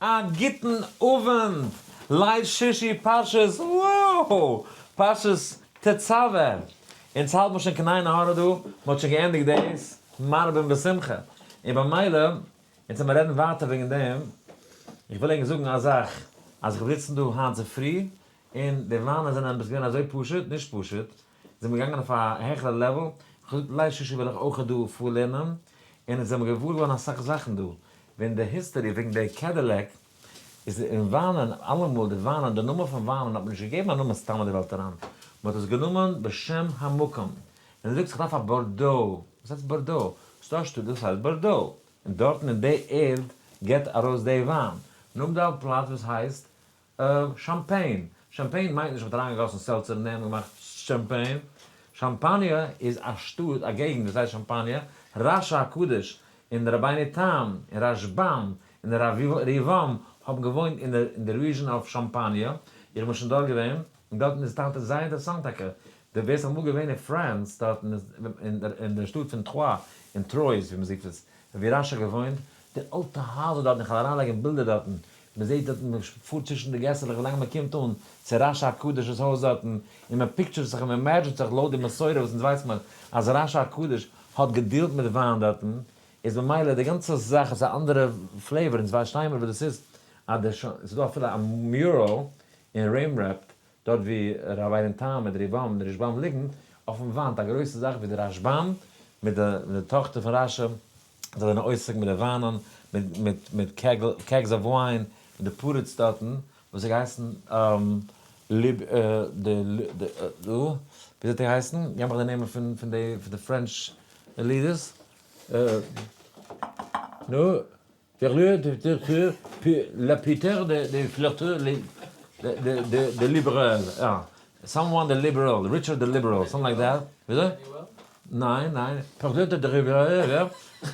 א גוטן אווענט, ליל שישי פרשת וואו! פרשת תצוה! אונז האלט מען שוין קניי נהרא דא, מען האט שוין געענדיגט דאס, מרבין בשמחה. און במילא, אונז וועלמער רעדן ווייטער וועגן דעם, איך וויל ענק זאגן א זאך, אז איך האב געזיצן דא היינט צופרי, און די וויינען זענען עפעס געווען אזוי פשוט, נישט פשוט, זענען מיר געגאנגען אויף א העכערע לעוועל, איך האב געזאגט ליי ששי וויל איך אויך דא פארלערנען, און עס זענען מיר געוואר געווארן אסאך זאכן דא, ווען די היסטערי וועגן די קעדילעק איז אין וויינען, אלעמאל די וויינען, די נאמען פון וויינען האט מען נישט געגעבן א נאמען סתם אין די וועלט אריין, מען האט עס גענומען בשם המקום, ווען דו זאגסט איך דארף א בארדאו, וואס הייסט בארדאו? וואס טוישט דא? דאס הייסט בארדאו, און דארטן אין די ערד געבט ארויס די וויין, נאמט די אלט פלאץ וואס הייסט אה, שאמפעין. שאמפעין מיינט נישט מ'האט אריינגעגאסן סעלצער און דעם געמאכט שאמפעין. שאמפאניע איז א שטאט, א געגנט וואס הייסט שאמפאניע. רש הקדוש און רבינו תם און רשבם און רבם האבן געוואוינט אין אין די ריזשען אויף שאמפאניע. איך בין שוין דארט געווען. און דארטן איז טאקע זייער אינטערעסאנט טאקע. דו ווערסט אמאל געווען אין פרענס דארטן אין אין די שטאט פון טרוי און טרויס ווי מ'זיגט עס. ווי רש האט געוואוינט. די אלטע הייזער דארטן איך וועל אריינלייגן בילדער דארטן. מען זעט דארטן מען פארט צווישן די געסעלעך ווי לאנג מען קומט אן צו רשע הקדוש'ס הויז דארטן, און מען פיקטשערט זיך און מען אימעדזשינט זיך לויט די מסורה וואס אונז ווייס מען אז רשע הקדוש האט געדילט מיט וויין דארטן, איז ממילא די גאנצע זאך איז א אנדערע פלעיוואר, אונז פארשטיי מיר וואס דאס איז, אז דער ש ס איז דא אפילו א מיורעל אין רעמרפט דארט ווי רבי'ן תם מיט ריבם און רשבם ליגן, אויפן וואנט א גרויסע זאך ווי די רשבם מיט די מיט די טאכטער פון רשע, זיי זענען עוסק מיט די וויינען, מיט מיט מיט קעגל קעגס אויף וויין, מיט די פרדס דארטן, וואס האט געהייסן ליב די די דא, ווי האט ער געהייסן? געב מיך די נעמען פון פון די פון די פרענטש לידערס, נו? דער לויער דער פיטער ל פיטער דער דער פילאטו ל דער דער דער ליבעראל יא סאם וואן דער ליבעראל ריטשארד דער ליבעראל סאמטינג לייק דעט וויאזוי ניין ניין פרעזידענט דער ריווערער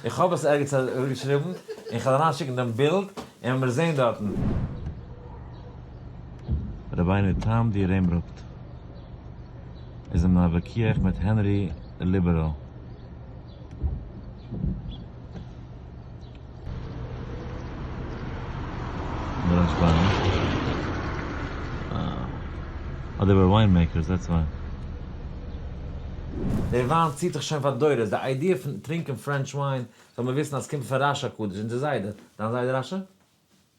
איך האב עס ערגעץ אראפגעשריבן און כ'וועל אריינשיקן דעם בילד און מיר זעהן דארטן. רבינו תם די רעמבראפט איז אין א וויכוח מיט הענרי דער ליבעראל. דער וויין ציט זיך שוין פאר דורות, די איידיע פון טרינקען פרענטש וויין זאל מען וויסן אז ס'קומט פון רש הקדוש, אונזער זיידע, דיין זיידע רשע?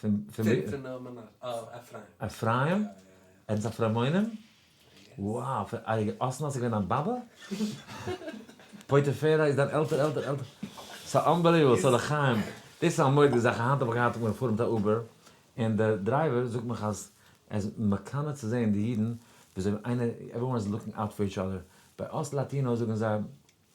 פון אפרים? ער איז אפרמונים? וואו! פון אסנא איז געווען דיין באבע? פוטיפרה איז דיין עלטער עלטער עלטער? ס'איז אנבעליוועבל! סאו לחיים, דאס איז א מודי זאך, היינט האב איך געהאט, איך בין געפארן מיט א אובער, און דער דרייווער זאגט מיך אז ער איז מקנא צו זען די אידן וויאזוי איינער, עוועריוואן איז לוקינג אוט פאר איטש אדער, ביי אס לאטינאס זאגן זיי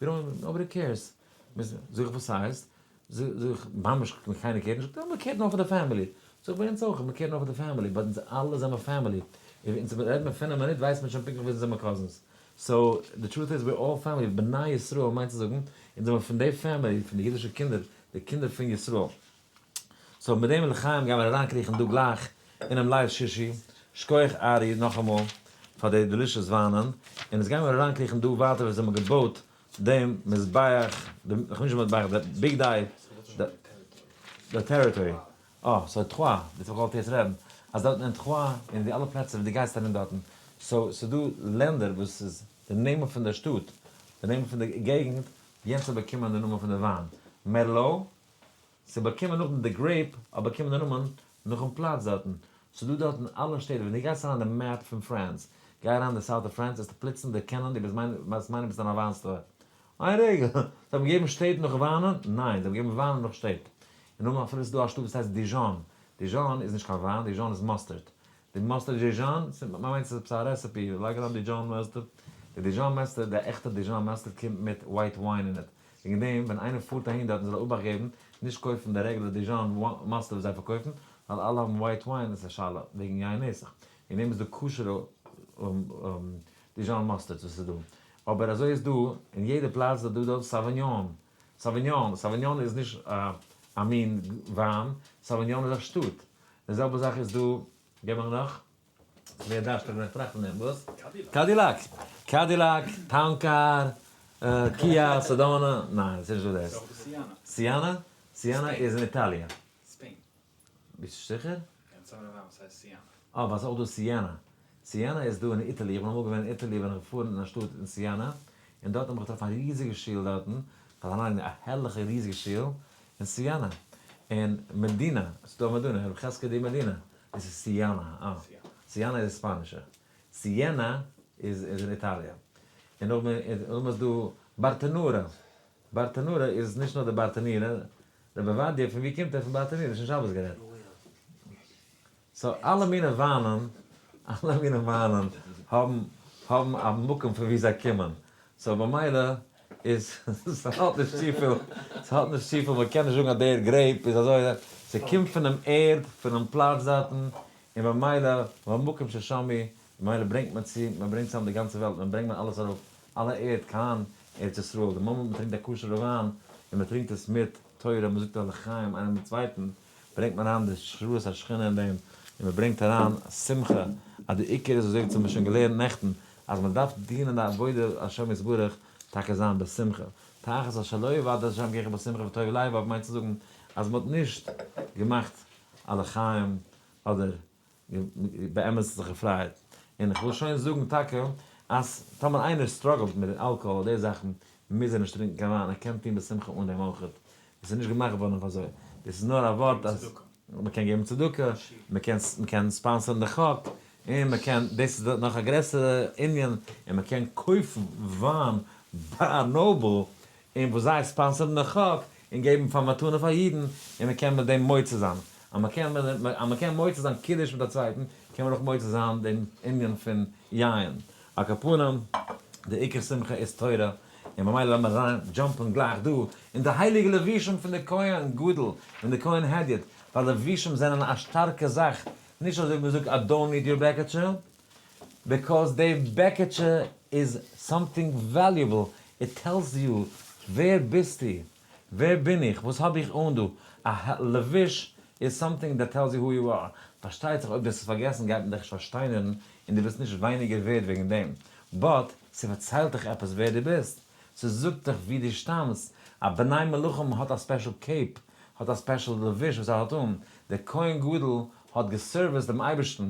גענוי, נאובאדי קעירס. זאג איך וואס הייסט? זאג איך, ממש קיינער קעירט נישט? יא מען קעירט נאר פאר די פעמילי. זאג איך ביי אונז אויך, מען קעירט נאר פאר די פעמילי, באט אונז אלע זעמער פעמילי, און אונז רעדט מען פינף מינוט ווייסט מען שוין פונקטליך ווער אונז זעמער קאזינס. סאו די טרוט איז וויר אלל פעמילי, בני ישראל מיינט צו זאגן אונז זעמער פון די פעמילי, פון די אידישע קינדער, די קינדער פון ישראל. סאו מיט דעם לחיים גיימער אריינקריכן דא גלייך אינעם לייוו שישי, שקויעך ארי נאכאמאל פאר די דעלישעס וויינען, און עס גיימער אריינקריכן דא ווייטער וואס זיי האבן געבויט דעם מזבח, די נישט מזבח די ביג דיי, די טעריטארי, אה סאו תחוה, דאס האב איך געוואלט יעצט רעדן, אז דארטן אין תחוה און די אלע פלעצער ווי די גייסט ארום דארטן, סאו ס'איז דא לענדער וואס איז די נעמען פון די שטאט, די נעמען פון די געגנט, יענץ האט באקומען די נאמען פון די וויין, מערלאו, ס'איז באקומען נאכדעם די גרעיפ האט באקומען די נאמען נאכן פלאץ דארטן. ס'איז דא דארטן אלע שטעט ווען דו גייסט אריין אין די מעפ פון פרענס, גיי אריין די סאוט אוו פרענס וועסטו פלוצלונג דערקענען דו וועסט מיינען ביסט אין א וויין סטאר. איין רגע! זיי האבן געגעבן שטעט נאך וויינען? ניין, זיי האבן געגעבן וויינען נאך שטעט. און נאכדעם אפילו ס'איז דא א שטאט וואס הייסט דיזשאן. דיזשאן איז נישט קיין וויין, דיזשאן איז מאסטערד. די מאסטער דזשיזשאן, מ'מיינט ס'איז עפעס א רעסעפי, לייג אריין דיזשאן מעסטער, די דיזשאן מעסטער, די עכטע דיזשאן מעסטער קומט מיט ווייט וויין אין איט, וועגן דעם ווען איינער פארט אהין דארטן זאל ער אבאכט געבן נישט קויפן די רעגולער דיזשאן מעסטער וואס זיי פארקויפן, ווייל אלע האבן ווייט וויין, עס איז א שאלה וועגן יין נסך, וועגן דעם איז דא כשר'ע דיזשאן מעסטערס וואס איז דא, אבער אזוי איז דא אין יעדע פלאץ איז דא דארט סאוויניאן, סאוויניאן, סאוויניאן איז נישט א מין וויין, סאוויניאן איז א שטאט. די זעלבע זאך איז דא, געב מיר נאך, מער דארשטיג ווען איך טראכט פון דעם, וואס? קאדילאק. קאדילאק, טאון קאר, קיא, סעדאנא, ניין עס איז נישט דא דאס. סיענע? סיענע איז אין איטאליע. ביסט זיכער? אה ווייל עס איז אויך דא סיענע. סיענע איז דא אין איטעלי, איך בין אמאל געווען אין איטעלי בין איך געפארן אין א שטאט אין סיענע, און דארטן האב איך געטראפן א ריזיגע שול דארטן, כ'האב זיך אריינגעלייגט א הערליכע ריזיגע שול אין סיענע, און מעדינא, ס'איז דא מעדינא, הרב חזקי די מעדינא, דאס איז סיענע, אה, סיענע איז ספאנישע, סיענע איז איז אין איטאליע, און נאך מער איז נאך מער דא בארטענורע, בארטענורע איז נישט נאר די בארטענירע, רבי עובדיה פון ווי קומט ער פון בארטענירע נישט אין שבת גערעדט. סאו אלע מיני וויינען, אלע מיני וויינען האבן האבן א מקום פון ווי זיי קומען, סאו במילא איז ס'האט נישט צופיל, ס'האט נישט צופיל, מ'קען נישט זאגן אז דער גרעיפ איז אזוי, ס'קומט פונעם ערד, פונעם פלאץ דארטן, און במילא והמקום ששמי, ממילא ברענגט מען צו, מ'ברענגט צוזאם די גאנצע וועלט, מען ברענגט מען אלעס ארויף, אלע ערד קיין ארץ ישראל, די מאמענט מ'טרינקט א כשר'ע וויין, און מ'טרינקט עס מיט תורה, מ'זאגט א לחיים איינער מיטן צווייטן, ברענגט מען אריין די שבועת השכינה אין דעם, און מען ברענגט אריין שמחה, אז די עיקר איז וואס האבן מיר שוין געלערנט נעכטן, אז מען דארף דינען די עבודה השם יתברך טאקע זיין בשמחה, תחת אשר לא יבעט את השם געכער בשמחה וטוב לב, אויב מיינט צו זאגן אז מען האט נישט געמאכט א לחיים אדער באמת זיך געפרייט, און כ'וויל שוין זאגן טאקע אז טאמער איינער סטראגעלט מיט די אלקאהאל אדער די זאכן, מוז ער נישט טרינקן קיין וויין, ער קען טון בשמחה אן דעם אויך, עס איז נישט געמאכט געווארן אויף אזוי, דאס איז נאר א ווארט אז מען קען געבן צדקה, מען קען מען קען ספאנסערן די חק, און מען קען, דאס איז נאך א גרעסערע ענין, און מען קען קויפן וויין ביי א נאבל, און וואס זיי ספאנסערן די חק און געבן פאר מתנה פאר אידן, און מען קען מיט דעם מוצא זיין. אז מען קען אז מען קען מוצא זיין קידוש מיט א צווייטן, קען מען אויך מוצא זיין דעם ענין פון יין. על כל פנים, די עיקר שמחה איז תורה, און ממילא לאמיר אריין דזשאמפן גלייך דא אין די הייליגע לבושים פון די כהן גדול און די כהן הדיוט, ווייל לבושים זענען א שטארקע זאך, נישט אזוי ווי מען זאגט אדוני דיר בעקעטשע, ביקאוז די בעקעטשע איז סאמטינג וועליובל, איט טעלס יו ווער ביסטו, ווער בין איך, וואס האב איך אן דא, א לבוש איז סאמטינג דעט טעלס יו הו יו אר, פארשטייט זיך אויב דאס איז פארגעסן גייט מען דיך נישט פארשטיינערן און דו ביסט נישט ווייניגער ווערד וועגן דעם, באט ס'פארציילט דיך עפעס ווער דו ביסט, ס'זאגט דיך ווי דו שטאמסט, א בני מלכים האט א ספעשל קעיפ, האט א ספעשל לבוש וואס ער האט אן, דער כהן גדול האט געסערוויסט דעם אייבערשטן,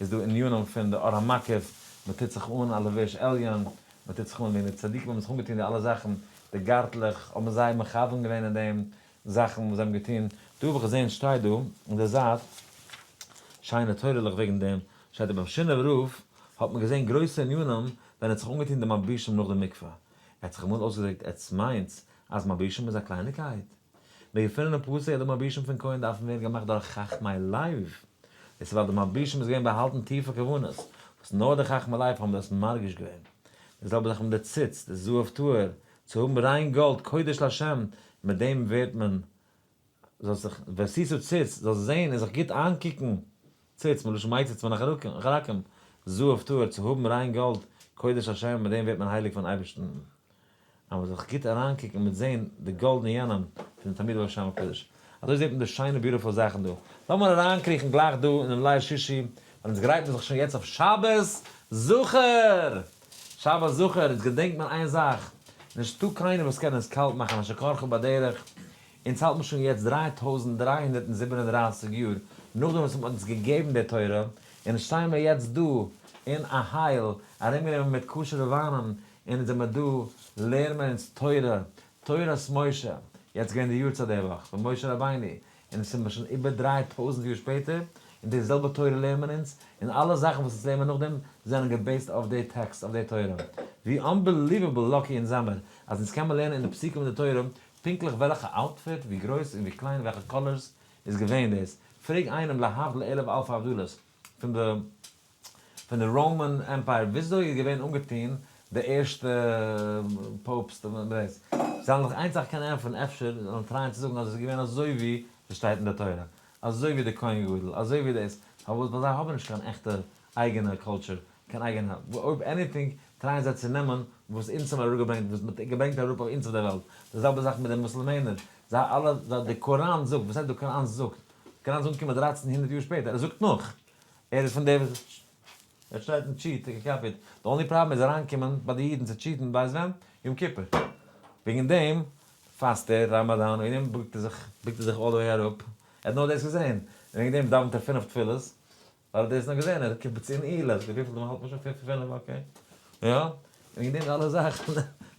איז דא ענינים פון די אור המקיף, מען טוט זיך אן א לבוש עליון, מען טוט זיך אן ווי די צדיקים האבן זיך אנגעטון די אלע זאכן, די גארטלעך, האבן זיי מכוון געווען אין דעם זאכן וואס זיי האבן געטון, דא האב איך געזען שטייט דא אין די זייט שיינע תורה'לעך וועגן דעם, שטייט דא ביים שינעווער רב האט מען געזען גרויסע ענינים ווען ער האט זיך אנגעטון די מלבישים נאך די מקווה, ער האט זיך אמאל אויסגעדריקט עטס מיינטס אז מלבישים איז א קלייניקייט? די געפונענע פרטי אדמו ר בשם פון כהן דארפן ווערן געמאכט דורך חכמי לייב. דאס איז ווייל אדמו ר בשם איז געווען באהאלטן טיפע כוונות וואס נאר די חכמי לייב האבן דאס מרגיש געווען. די זעלבע זאך מיט די ציץ, די זהב טהור, צו האבן ריין גאלד קודש לשם, מיט דעם ווערט מען זאלסט זיך ועשיתו ציץ, זאלסט זען און זיך גוט איינקוקן, ציץ, מלשון מי ציץ מן החרקים, זהב טהור, צו האבן ריין גאלד קודש לשם, מיט דעם ווערט מען הייליג פארן אייבערשטן. אז מען זאל זיך גוט אריינקוקן און מען וועט זען די גאלדענע יונים פונעם תלמיד ביים שם הקדוש, אזוי זעט מען די שיינע ביוטיפול זאכן דא, לאמיר אריינקריכן גלייך דא אינעם ליל שישי, ווייל אונז גרייט מען זיך שוין יעצט אויף שבת זכור! שבת זכור, יעצט געדענקט מען איין זאך, נישטא קיינער וואס קען אונז קאלט מאכן יישר כחו בדרך, אונז האלט מען שוין יעצט דרײַ טויזנט דרײַ הונדערט און זיבן און דרײַסיק יאר נאכדעם וואס מען האט אונז געגעבן די תורה, און אונז שטייען מיר יעצט דא אין א הייל, ארומגענומען מיט כשר'ע וויינען, אונז זעמער דא לערן מיר אונז תורה, תורת משה, יעצט געווען די יארצייט די וואך פון משה רבינו, און עס איז מיר שוין איבער דריי טויזנט יאר שפעטער, און די זעלבע תורה לערן מיר אונז, און אלע זאכן וואס אונז לערן מיר נאכדעם זענען געבעיסט אויף די טעקסט, אויף די תורה. ווי אנבעליוועבל לאקי אונז זעמער אז אונז קען מיר לערנען אין די פסוקים אין די תורה פונקטליך וועלכע אוטפיט, ווי גרויס און ווי קליין, וועלכע קאלערס איז געווען דאס, פרעג איינעם להבדיל אלף אלפי הבדלות, פון די פון די ראמאן עמפייער וויאזוי איז געווען אנגעטון די ערשטע פויבסט און די רעסט זיי האבן זיך איין זאך קענען ענטפערן אפשר זאל מען טרייען צו זאגן אז עס איז געווען אזוי ווי עס שטייט אין די תורה אזוי ווי די כהן גדול אזוי ווי דאס פארוואס ווייל זיי האבן נישט קיין עכטע אייגענע קולטשור קיין אייגענע אויב עניטינג טרייען זיי צו נעמען וואס אונז האבן אראפגעברענגט וואס מען האט געברענגט אראפ אויף אונז אויף די וועלט די זעלבע זאך מיט די מוסלמענער זיי אלע די קוראן זאגט וואס הייסט די קוראן זאגט קען אלס אנקומען דרייצן הונדערט יאר שפעטער, ער זאגט נאך ער איז פון די וואס ער שרייט און טשיעט און קאפיעט, די אנלי פראבלעם איז אריינקומען ביי די אידן צו טשיעטן ווייסט ווען? יום כיפור, וועגן דעם פאסט ער, ראמאדאן, וועגן דעם בוקט ער זיך, בוקט ער זיך אלל די וועי אראפ, ער האט נאר דאס געזען, און וועגן דעם דאווענט ער פינף תפילות, ווייל דאס איז נאר געווען אין קיבוץ אין אילת, וויפיל דעם האלט מען שוין פון פון פינף אקעי, יא, און געדינט אלע זאכן,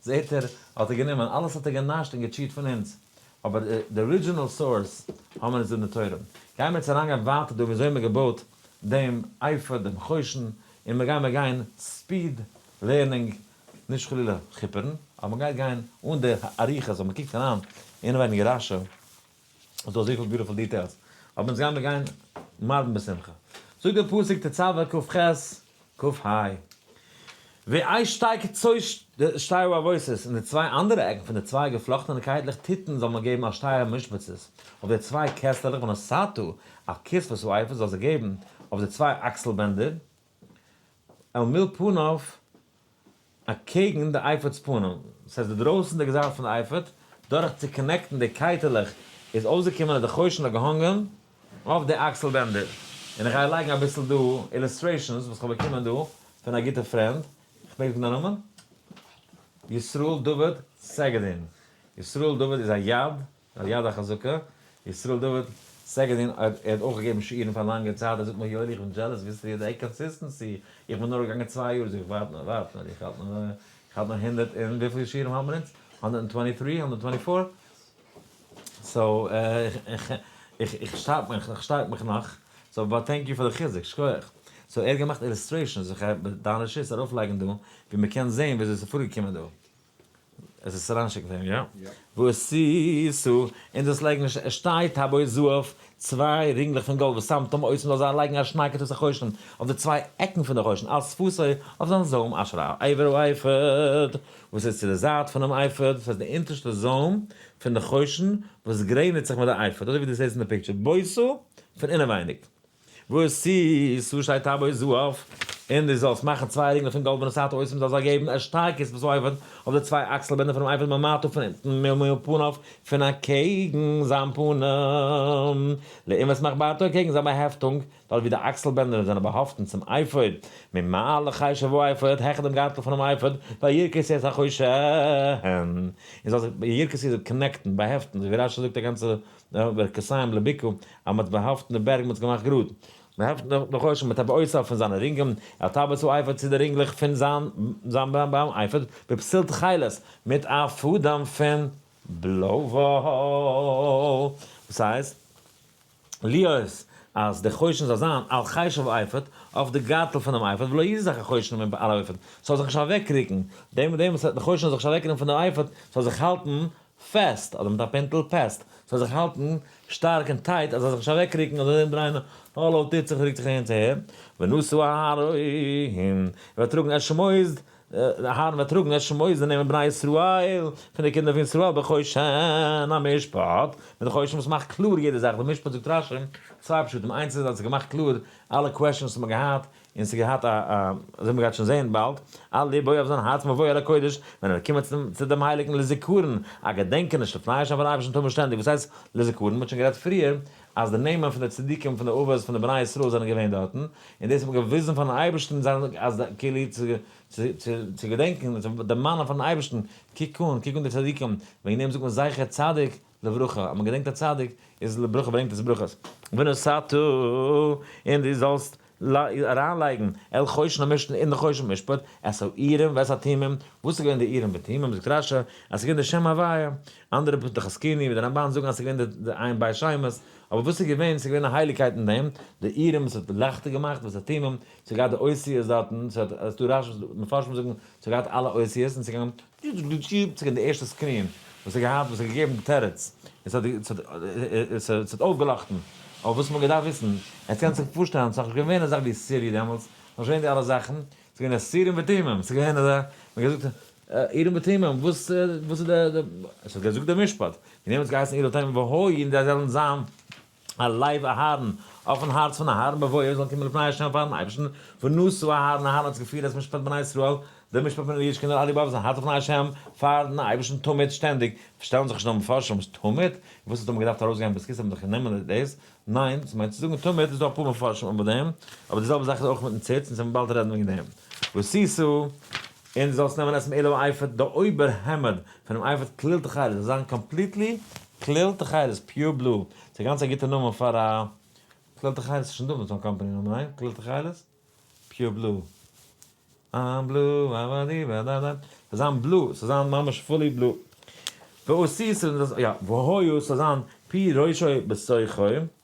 זעהט ער האט ער גענומען, אלעס האט ער גענאשט און געטשיעט פון אונז, אבער די ארידזשינעל סאורס האבן מיר אונז די נטורים, גייען מיר יעצט אריינגיין ווייטער דא ווי אזוי מען האט געבויט דעם אייפאד דעם חושן, און מיר גיימיר גיין ספיד לערנינג, נישט חלילה כיפערן, אבער מען גייט גיין אן די אריכות, אז מען קוקט אריין אינעווייניג רשי. ס'איז דא אזויפיל ביוטיפול דיטעילס, אבער אונז גיימיר גיין מרבין בשמחה. זאגט דער פסוק תצוה ק ח, ק ה, ווי איי שטייגט צויי שטייער ארויס איז אין די צוויי אנדערע עקן פון די צוויי געפלאכטענע קייטלעך טיטן זאל מען געבן א שטייער משבצות אויף די צוויי קעסטעלעך ונשאתו על כספות העופות זאל זיי געבן אויף די צוויי אקסל בענדער. אל מול פניו, אקעגן די אייפאד'ס פנים, דאס הייסט די דרויסענדיגע זייט פון די אייפאד, דורך צו קאנעקטן די קייטעלעך איז אויסגעקומען אז די חושן האט געהאנגען אויף די אקסל בענדער, און איך גיי לייגן אביסל דא אילוסטרעישאנס וואס כ'האב באקומען דא פון א גוטע פרענד, כ'מעג זאגן דיין נאמען? ישראל דוד סעגעדין, ישראל דוד איז א יד, על יד החזקה, ישראל דוד סעגעדין ער האט אויך געגעבן שיעורים פאר א לאנגע צייט, ער זאגט מיר יואלי איך בין דזשעלעס וויאזוי ס'איז די קאנסיסטענסי, איך בין נאר געגאנגען צוויי יאר, זאג איך ווארט נאר ווארט נאר איך האלט נאר איך האלט נאר הונדערט און וויפיל שיעורים האבן מיר אונז? הונדערט און טווענטי טרי? הונדערט טווענטי פאר? סאו איך איך שטארק מיך איך שטארק מיך נאך, סאו באט טענק יו פאר די חיזוק, שקויעך. סאו ער האט געמאכט אילוסטרעישאנס, זיך דיינע שיטס ארויפלייגן דא, ווי מ'קען זעהן וויאזוי ס'איז פארגעקומען דא. עס איז אריינשיקן פאר אים יא? וואס איז סא אין דאס לייגן א ש עס שטייט הבו זהב צוויי רינגלעך פון גאלד וואס סאמטאם אויס מען זאל זיי לייגן א שניי כתות החושן אויף די צוויי עקן פון די חושן אלס פאסוי אויף זיין זוים אשר על עבר האפוד וואס איז צו די זייט פונעם אפוד דאס הייסט די אונטערשטע זוים פון די חושן וואס גרעניצט זיך מיט די אפוד אזוי ווי דו זעסט אין די פיקטשער בויסו פון אינעווייניג. וואס איז וואס שטייט אבי זו אויף און דו זאלסט מאכן צוויי רינגלעך פון גאלד ווען עס האט אויסען דו זאלסט זיי געבן א שטארקע עס וואס אויבן אויף די צוויי אקסל בענדער פונעם אייפאד ממעטה פון אונטן מ מ פניו פון אקעגן זיין פנים לעומת עס מאכט בארטו אקעגן זיין באהעפטונג דארט ווי די אקסל בענדער זענען באהאפטן צום אייפאד ממעלה חי שבו אייפאד העכער דעם גארטל פונעם אייפאד ווייל ירקות איז החושען און זאלסט זיי ירקות איז קאנעקטן באהעפטן אזוי ווי רש י זאגט א גאנצע די ווערק כסיים לביקור, אז מ'האט באהאפט אין די בערג, מ'האט עס געמאכט גראד. מ'העפט נאך די חושן מיט א בעוצאו פון זיינע רינגען, ער האט אבער צואייפערט צו די רינגלעך פון זיין זיין ביים אייפעד, בפסיל תכלת, מיט א פאדעם פון בלוי וואל. וואס הייסט? להיות אז די חושן זאל זיין על חשב אייפעד, אויף די גארטל פונעם אייפעד, ולא יזיז זיך החושן מן על אייפעד, ס'זאל זיך נישט אוועקרוקן, דעם וואס די חושן זאל זיך נישט אוועקרוקן פון די אייפעד, ס'זאל זיך האלטן פעסט, אדער מיט א פינטל, פעסט, ס'זאל זיך האלטן שטארק און טייט אז עס זאל זיך נישט אוועקרוקן אדער ארומדרייען, האלא, טוט זיך, רוקט זיך אהין צו אהער, ונשאו אהרן, ער וועט טראגן את שמות, אהרן וועט טראגן את שמות די נעמען בני ישראל, פון די קינדער פון ישראל בחושן המשפט, מיט די חושן וואס מאכט קלאר יעדע זאך, די משפט זאגט רשי צוויי פשטים, איינס איז אז עס האט געמאכט קלאר אלע קוועשאנס וואס מען האט געהאט און ס'איז געהאט א א אזוי מ'גייט שוין זעהן באלד, על לבו אויף זיין הארץ מבואו אל הקודש, ווען ער וועט קומען צום צו דעם הייליגן לזיכרון, א געדענקעניש לפני השם פאר א אייבערשטן טאר מען שטענדיג, וואס הייסט לזיכרון? מ'האט שוין גערעדט פריער אז די נעמען פון די צדיקים פון די אבות פון די בני ישראל זענען געווען דארטן, און דאס האט מען געוויזן פארן אייבערשטן זיין אז כאילו צו צו צו צו געדענקן, צו דערמאנען פארן אייבערשטן, קוק אן, קוק אן די צדיקים, וועגן דעם זאגט מען זכר צדיק לברכה, אז מען געדענקט א צדיק איז לברכה ברענגט עס ברכות. ונשאת, און דו זאלסט אריינלייגן, אל חושן המשפט, אין די חושן משפט, את האורים ואת התומים, וואס איז געווען די אורים ותומים, זאגט רשי, אז עס איז געווען די שם הוויה, אנדערע פותח הזקנים און די רמבן זאגן אז עס איז געווען די עיין בית שמש, אבער וואס איז געווען, עס איז געווען א הייליגקייט אין דעם, די אורים וואס האט לייכטער געמאכט, ואת התומים, עס האט געהאט די אותיות דארטן, ס'האט, ס'דא רשי, מפרשים זאגן, ס'האט געהאט אלע אותיות, און ס'איז געגאנגען יוט געשטיפט זיך אין די ערשטע סקרין וואס ער האט געהאט וואס האט געגעבן די תירוץ און ס'האט אויפגעלאכטן אויף וואס מ'האט געדארפט וויסן, עטס קענטס זיך פארשטעלן ס'איז נאך נישט געווען אזאך ווי סירי דעמאלטס, ס'איז נאך נישט געווען די אלע זאכן, ס'איז געווען אסירים ותמימים, ס'איז געווען אזא, מ'האט געזאגט עירים ותמימים, וואס איז די, ס'האט געזאגט די משפט, און אים האט עס געהייסן עיר ותימים והוי און זיי זאלן זיין. א לב אהרן, אויפן הארץ פון אהרן, בבואו זאלן קומען לפני השם פארן אייבערשטן, ונשאו אהרן, אהרן האט זיך געפירט אלס משפט בני ישראל, די משפט פון ליע'ס קינדער, אליבא וואס זיין הארץ לפני השם, פארן אייבערשטן תמיד, שטענדיג, פארשטעלן זיך נישט נאר מפרשים וואס תמיד, און וואס האט אמאל געדארפט ארויסגיין בזכות האבן זיך גענומען דאס, ניין, ס'מיינט צו זאגן תמיד, איז דא אפאר מפרשים אבער דעם, אבער די זעלבע זאך איז אויך מיטן ציץ, און ס'וועט מען באלד רעדן וועגן דעם. וסי ס. און דו זאלסט נעמען אויס'ן עילוי אייפאד די אויבער העמד פונעם אייפאד כליל תכלת, זאל זיין קאמפליטלי כליל תכלת, פיור בלו, ס'איז גאנץ א גוטע נאמען פאר א, כליל תכלת איז שוין דא מיט אן קאמפאני נאמען, ניין? כליל תכלת? פיור בלו. איים בלו אבאדיבאדאדא. ס'זאל זיין בלו, ס'זאל זיין ממש פולי בלו. והוא סיסרא, יא, והוא סיסרא, ס'זאל זיין פי ראשו בשוחו.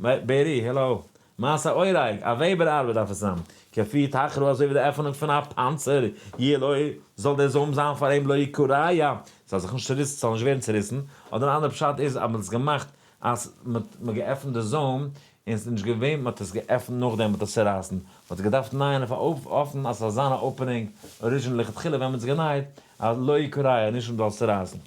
בערי, העלאו. מעשה אוהרייג, א וועבער ארבעט דארף עס זיין. כפי תחלו אזוי ווי די עפענונג פון א פאנצער, יהיה לו, זאל דער זוים זיין פאר אים לא יקריה, ס'זאל זיך נישט צוריסן, ס'זאל נישט ווערן צוריסן, אדער אן אנדערע פשט איז אז מען האט עס געמאכט אז מען האט געעפנט די זוים און ס'איז נישט געווען, מען האט עס געעפנט נאכדעם וועט עס צורייסן, מען האט עס געדארפט נייען אויף א אופן אז ס'זאל זיין א אפענונג אריזשינעל לכתחילה ווען מען האט עס גענייעט, אז לא יקריה, נישט אז מען זאל עס צורייסן.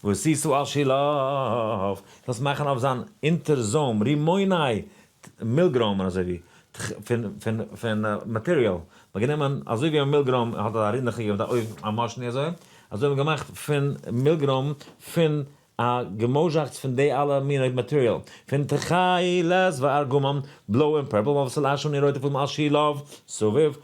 וואס איסו על שילוב זאלסט מאכן אויף זיין אונטער זוים רימוני ת מיל גראם און אזוי ווי ת ח פון פון פון מאטעריאל מ'האט גענומען אזוי ווי א מיל גראם האט א רינדעכע געווען מיט א אויבן א מאשני אזוי אזוי האט מען געמאכט פון מיל גראם פון א געמוזשאכץ פון די אלע מיני מאטעריאל פון תכלת וארגמן בלוי און פורפל מ'האט וואס על אש און אין רויטע פאדעם על שילוב סביב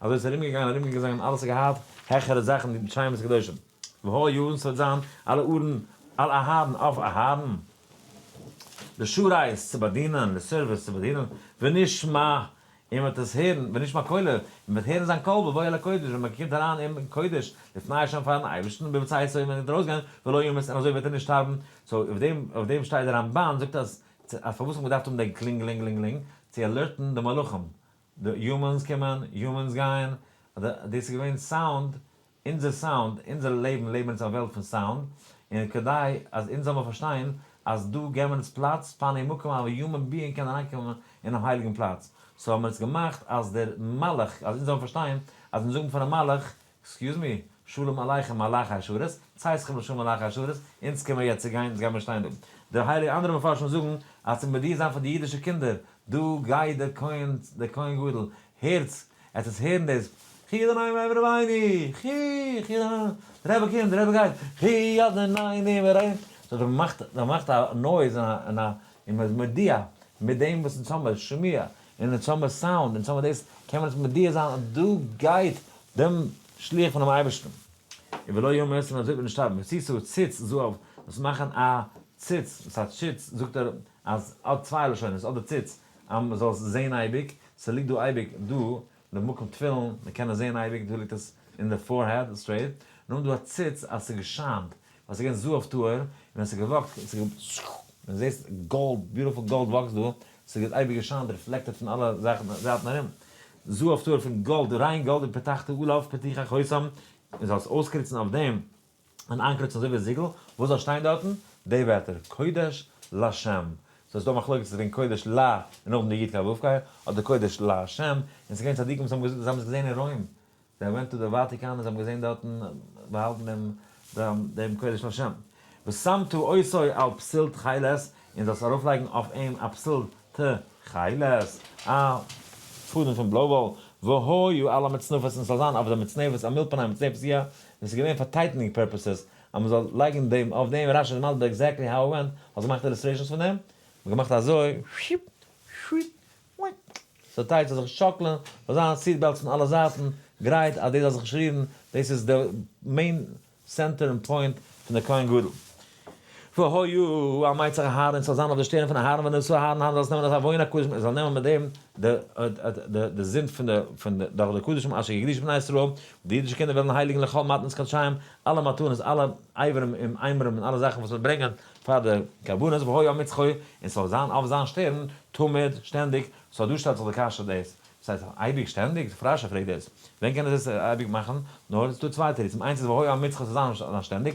אזוי איז ארומגעגאנגען ארומגעגעזאנגען און אלעס האט געהאט העכערע זאכן ווי שמות קדושים והא יארן ס'וועט זיין על אהרן על אהרן אויף אהרן לשרייס צו באדינען לסערוויס צו באדינען ונשמע און מ'וועט עס הערן ונשמע קולו און מ'וועט הערן זיין קול בבואו אל הקודש ווען מ'קומט אריין אין קודש לפני השם פארן אייבערשטן בצאתו און ווען מ'גייט ארויסגיין ולא ימות און אזוי וועט ער נישט שטארבן סאו אויף דעם אויף דעם שטייט די רמבן זאגט אז אז פארוואס האט מען געדארפט האבן דעם קלינגעלינגעלינגעלינג צו אלערטן די מלאכים די יומענס קומען, יומענס גייען, אדער דאס איז געווען סאונד, אונזער סאונד, אונזער לעבן, לעבן אונז א וועלט פון סאונד, און כדי אז אונז זאל מען פארשטיין אז דא געבן מיר אונז פלאץ פאר די מקום אווי יומען ביאינג קען אריינקומען אינעם הייליגן פלאץ, סאו האבן מיר עס געמאכט אז דער מלאך, אז אונז זאלן פארשטיין אז אונז זאגן פארן מלאך עקסקיוז מי, שלום עליכם מלאכי השרת, צייס לכם לשלום מלאכי השרת, אונז קען מען יעצט צוגיין, אונז גייט מען שטיין דא. די הייליגע אנדערע מפרשים זאגן אז צו מודיע זיין פאר די אידישע קינדער, דא גייט דער כהן, דער כהן גדול, הערטס, עטס וועטס הערן דאס, חי אדוני ואמר רבינו, חי, חי אדוני, דער רבי קומט, דער רבי גייט, חי אדוני ואמר רבינו, זאגט ער, מ'מאכט, מ'מאכט א נויז און א, און א, און מ'איז מודיע, מיט דעם וואס אונז האבן, שמיעה, און אונז האמער סאונד, אונז האמער דאס, קען מען עס מודיע זיין אז דא גייט דעם שליח פונעם אייבערשטן. און ולא ימות און אזוי וועט נישט שטארבן, ווי צי ס'וועט ציץ זאל אויף דאס מאכן א ציץ, וואס א ציץ זאגט ער אז האט צוויי לשונות, אדער ציץ אז מ'זאל עס זעהן אייביג, ס'ליגט דא אייביג דא. די מקום תפילין, מען קען עס זעהן אייביג, דא ליגט עס אין די פארהעד סטרעיט, און האבן דא א ציץ אז ס'איז געשיינט, ווייל ס'איז געווען זוה אויף טהור, און ווען ס'איז געוואקט, מען זעהט גאלד, ביוטיפול גאלד וואקסט דא, ס'איז אייביג געשיינט, ריפלעקטעד פון אלע זאכן זייטן ארום, זוה אויף טהור פון גאלד, ריין גאלד, ופתחתי עליו פתיחה חותם, מען זאל עס אויסקריצן אויף דעם. אן איינקרויצן אזוי ווי א זיגל, וואס זאל שטיין דארטן? די ווערטער, קודש לשם. סאו עס איז דא א מחלוקת צו זאגן קודש ל און נאכדעם די י' קא ו' קאי, אדער קודש לשם, און ס'איז געווען צדיקים וואס האבן געזאגט אז זיי האבן עס געזען אין רוים, זיי האבן געווען טא די וואטיקאן און זיי האבן געזען דארטן באהאלטן דעם דעם דעם קודש לשם. ושמתו עושי על פסיל תכלת, און זאלסט ארויפלייגן אויף אים א פסיל תכלת, א פאדעם פון בלוי וואל, והיו על המצנפת, און ס'זאל זיין אויף די מצנפת א מילפאנעי מצנפת יה, און ס'איז געווען פאר טייטענינג פערפעסעס אז מען זאל לייגן דעם אויף דעם רש י איז מסביר עקזעקטלי האו און ווען, האסט געמאכט אילוסטרעישאנס פון דעם? האט געמאכט אזוי שיפ שיפ וויק סאו טייטש זאל זיך שאקלען, זאל זיין סיט בעלטס פון אלע זייטן גרייט אז דאס זאל זיך נישט רירן, דאס איז די מעין סענטער און פוינט פון די כהן גדול. והוי הוא, א מיצר אהרן ס'זאל זיין אויף די שטערן פון אהרן ווען עס איז אהרן האנט זאל עס נעמען אזא וואוינער קדושים און זאל נעמען מיט דעם די זינד פון די פון די דורך די קדשים אשר יקדיש בני ישראל די אידישע קינדער וועלן הייליגן לכל מתנות קדשיים אלע מתנות אלע אברים און איימערים און אלע זאכן וואס מען ברענגען פאר די קרבנות והוי הוא מצחו און ס'זאל זיין אויף זיין שטערן תמיד שטענדיג סאו דא שטעלט זיך די קשיא דאס וואס הייסט אייביג שטענדיג? די פרשה פרעגט דאס ווען קען עס דאס אייביג מאכן? נאר ס'איז דא צוויי תירוצים איינס איז והוי הוא מצחו ס'זאל זיין שטענדיג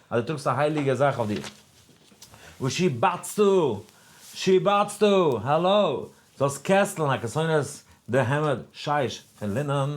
אז דו טראגסט א הייליגע זאך אויף דיר, וואס שיבצתו, שיבצתו, האלאו, זאלסט קעסטלן א כסונת די העמד שיש פון לינען,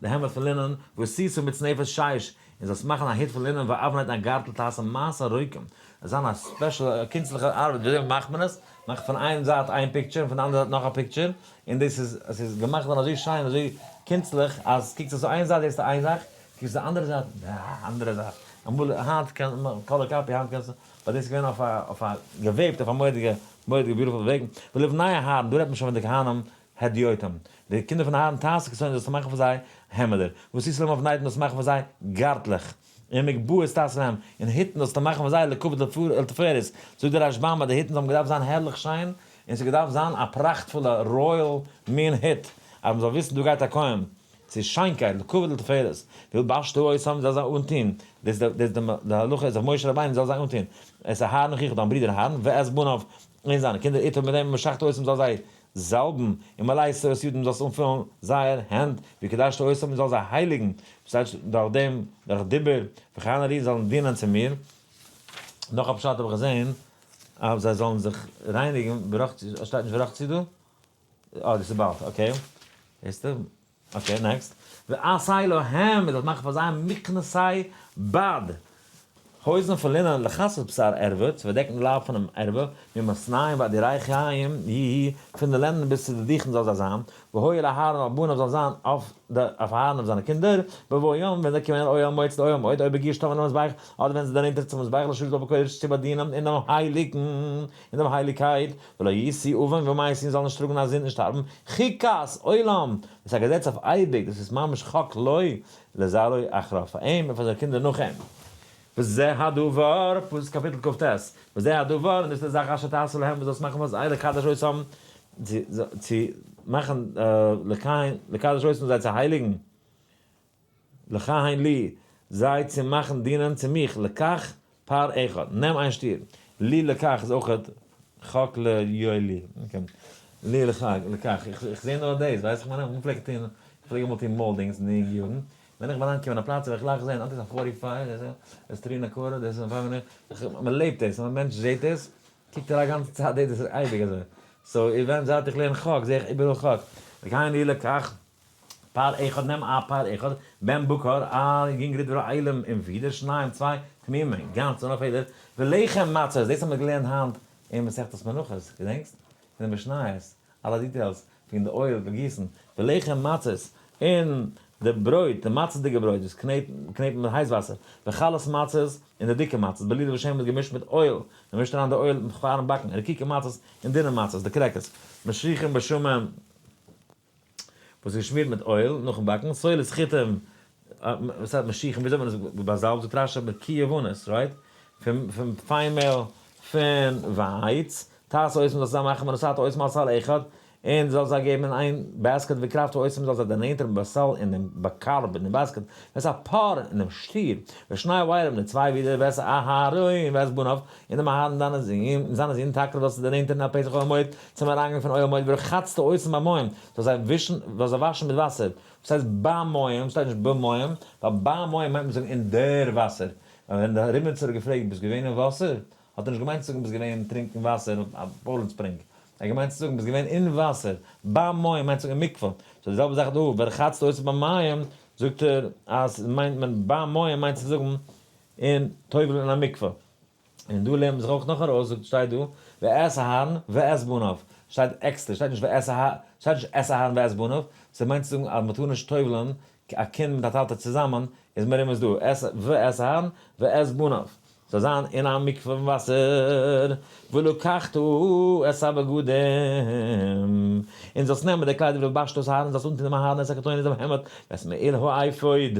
די העמד פון לינען, ועשיתו מצנפת שיש, און זאלסט מאכן א הוט פון לינען ואבנט א גארטל תעשה מעשה רוקים, עס זאל זיין א ספעשל א קונצליכע ארבעט וויאזוי מאכט מען עס, מאך פון איין זייט איין פיקטשער און פון די אנדערע זייט נאך א פיקטשער, און דאס איז עס איז געמאכט געווארן אזוי שיין און אזוי קונצליך אז קוקסט עס איין זייט זעסטו איין זאך, קענסט די אנדערע זייט? אה, אנדערע זייט. אמאל, היינט קען מען מיט קאלער קאפי, היינט קענסטו, באט דאס איז געווען אויף א, אויף א, געוועבט אויף א מורא'דיגע, מורא'דיגע ביוטיפול וועג. ולבני אהרן, דא רעדט מען שוין פון די כהנים הדיוטים. די קינדער פון אהרן טייסער כסא'ן זאלסטו מאכן פאר זיי העמעדער. וואס טוסטו להם אויף נייטן זאלסטו מאכן פאר זיי גארטלעך. און מגבעות תעשה להם, און היטן זאלסטו מאכן פאר זיי לכבוד לתפארת. זאגט דער רש ב אז די היטן האבן געדארפט זיין הערליך שיין, און ס'איז געדארפט זיין א פראכטפולע רויעל מין היט, אז מ'זאל וויסן דא גייט א כהן. צו שיינקייט לקבוע ולתפארת, וויל בעש ט אויס האבן זאל זיי אנטוהן, דאס איז דער דער דער הלכה איז אויף משה רבינו זאל זיי אנטוהן, עס איז אהרן אחיך דיין ברודער אהרן ואת בניו און זיינע קינדער איתו מיט דעם וואס שעכט אויס האבן זאל זיי זאלבן, און מלא עשרות ידים זאלסט אנפילן זייער הענט, ווי קדשת אויס האבן זאל זיי הייליגן, דאס הייסט דורך דעם דורך דיבור, וכן ארי זאלן דינען צו מיר, נאך א פשט האב איך געזעהן אז זיי זאלן זיך רייניגן, שטייט נישט ורחצו דא? אה, דאס איז באלד, אקעי. זעסטע? אקעי, נעקסט. ועשה להם, מ'זאל מאכן פאר זיי מכנסי בד, הויזן פון לינען, לכסות בשר ערווה, צו פארדעקן די לייב פונעם ערווה, ממאסניים ועד ירחיים, י י, פון די לענדן ביז צו די דיכן זאל זיי זיין, והיו אל אהרן על בניו זאל זיין אויף די, אויף אהרן אויף זיינע קינדער, בבוא יום, ווען זיי קומען אויל מועד צו די אויל מועד, אויב בגיר שתא מן המזבח, אדער ווען זיי זענען נענטער צום מזבח לשבת בקודש צו באדינען אין דעם הייליגן, אין דעם הייליגקייט, ולא ישיא אבן ומה ישיא און זאל נישט טראגן אז זינט נישט האבן ח ק אז עולם דאס א געזעץ אויף אייביג דאס איז ממש ח ק לא לזרעו אחריו פאר אים און פאר זיינע קינדער נאך אים. וזה הדבר, פסוק קאפיטל קט ס, וזה הדבר, און דאס איז די זאך אשר תעשה להם וואס זאלסט מאכן פאר זיי לקדש אותם, צו מאכן, לקדש אותם זיי צו הייליגן, לחיים לי, זיי צו מאכן דינען צו מיך, לקח פר אחד, נעם איין שטיר, לי לקח איז אויך חק ל יוי לי, לי לקח, לקח, איך זעה נאר דאס, ווייסט איך מיין, מ'פלעגט טוהן, איך פלעג אמאל טוהן מאלדינגס אין די יונגע יארן, ווען איך בין אנגעקומען א פלאץ האב איך גלייך געזעהן, אט איז א פארטי פייוו, דאס איז עס טרי אין א קארער, דאס איז פייוו אין, מ'לעבט דאס, אז א מענטש זעהט עס, קוקט ער א גאנצע צייט דאס, דאס איז אייביג אזוי, סאו איווען זייט איך לערן חק, זעה איך איבעראל חק, לחיים לי לקח. פאר אחד נעם א פאר אחד בן בקר א יונגערע דברי עילום און ווידער שניים צוויי תמימים גאנץ אן א פעדער ולחם מצות דאס האבן מיר געלערנט היינט אין מסכת מנחות געדענקסט אין די משניות אלע דיטעילס פון די אויל פון גיסן ולחם מצות און די ברויט די מצות'דיגע ברויט וואס קנעט קנעט מיט הייס וואסער וחלת מצות און די דיקע מצות בליל ושמן איז געמישט מיט אויל מען מישט אריין די אויל פארן באקן רקיקע מצות און דינע מצות די קרעקערס משריחים בשומן. וואס איז געשמירט מיט אויל נאכן באקן, סולת חיטים, וואס הייסט משיחים, וויאזוי האט מען עס באזאלבט, זאגט רשי מיט קי יבנות, רייט, פון פיין מעהל, פון ווייץ, תעש עושים זאלסטו זיי מאכן מנוסתו עושים על סל אחד, און זאלסט זיי געבן אין איין בעסקעט וקרבתו עושים זאלסט זיי דערנענטערן בבשר אין דעם קארב אין דעם בעסקעט, וועסט א פאר אין דעם שטיר, ושני עוברים די צוויי ווידער וועסט אהרן און וועסט בניו, און דעם אהרן און דיינע זין און זיינע זין טאקע וועלסטו דערנענטערן א פסח אויפן מועד, צום אריינגאנג פון אוהל המועד ורחצת עושים במים, זאלסט זיי ווישן, זאלסט זיי וואשן מיט וואסער. וואס הייסט במים? שטייט נישט במים? ווייל במים מיינט מען זאגן אין דער וואסער. ווייל ווען דער ריבניצער האט געפרעגט ביסט געווען אין וואסער? האט ער נישט געמיינט צו זאגן ביסט געווען טרינקן וואסער א פוילן ספרינג. ער האט געמיינט צו זאגן ביסט געווען אין וואסער. במים מיינט זאגן אין מקווה. סאו די זעלבע זאך דא, ורחצת עושים במים, זאגט ער אז מיינט מען ביים מים מיינט צו זאגן אין טובל אין א מקווה. און דא לערנט מען זיך אויך נאך ארויס, זאגט שטייט דא, ואת אהרן ואת בניו, שטייט עקסטער, שטייט נישט ואת אהרן, שטייט נישט את אהרן ואת בניו, ס'איז מיינט צו זאגן אז מ'טאר נישט טובל'ן א קינד מיט א טאטע צוזאמען, איז מרומז דא, ואת אהרן ואת בניו, זאל זיין אין א מקווה פון וואסער, ולקחת את הבגדים, און זאלסט נעמען די קליידער ולבשת את אהרן, זאלסט אנטון דעם אהרן את הכתונת דעם העמד, ואת מעיל האפוד,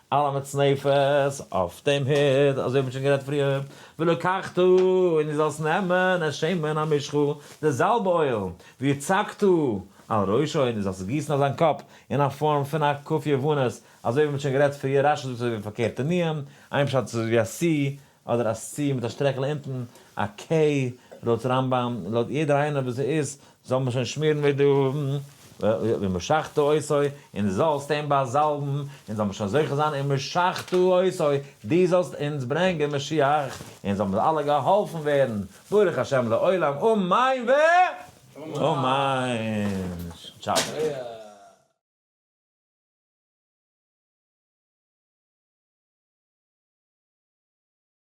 על המצנפת, אויף דעם הוט, אזוי ווי מ'האט שוין גערעדט פריער, ולקחת, און דו זאלסט נעמען את שמן המשחה, די זאלב אויל, והצגת על ראשו, און דו זאלסט עס גיסן אויף זיין קאפ, אין א פארם פון א קופיה וואנוס, אזוי ווי מ'האט שוין גערעדט פריער, רשי זאגט אזוי ווי פארקערט אין איהם, איין פשט איז אזוי ווי א סי, אדער א ס' מיט א שטרעכל אונטן, א ק' לויט רמב ם, לויט יעדער איינער וואס ער איז, זאל מען שוין שמירן ווי דו, ומשחתו עשו, און דו זאלסט אים באזאלבן, און זאל מען שוין זוכה זיין, ומשחתו עשו, דו זאלסט אונז ברענגען משיח, און זאל מיר אלע געהאלפן ווערן, ברוך השם לעולם אמן ואמן! טשאו.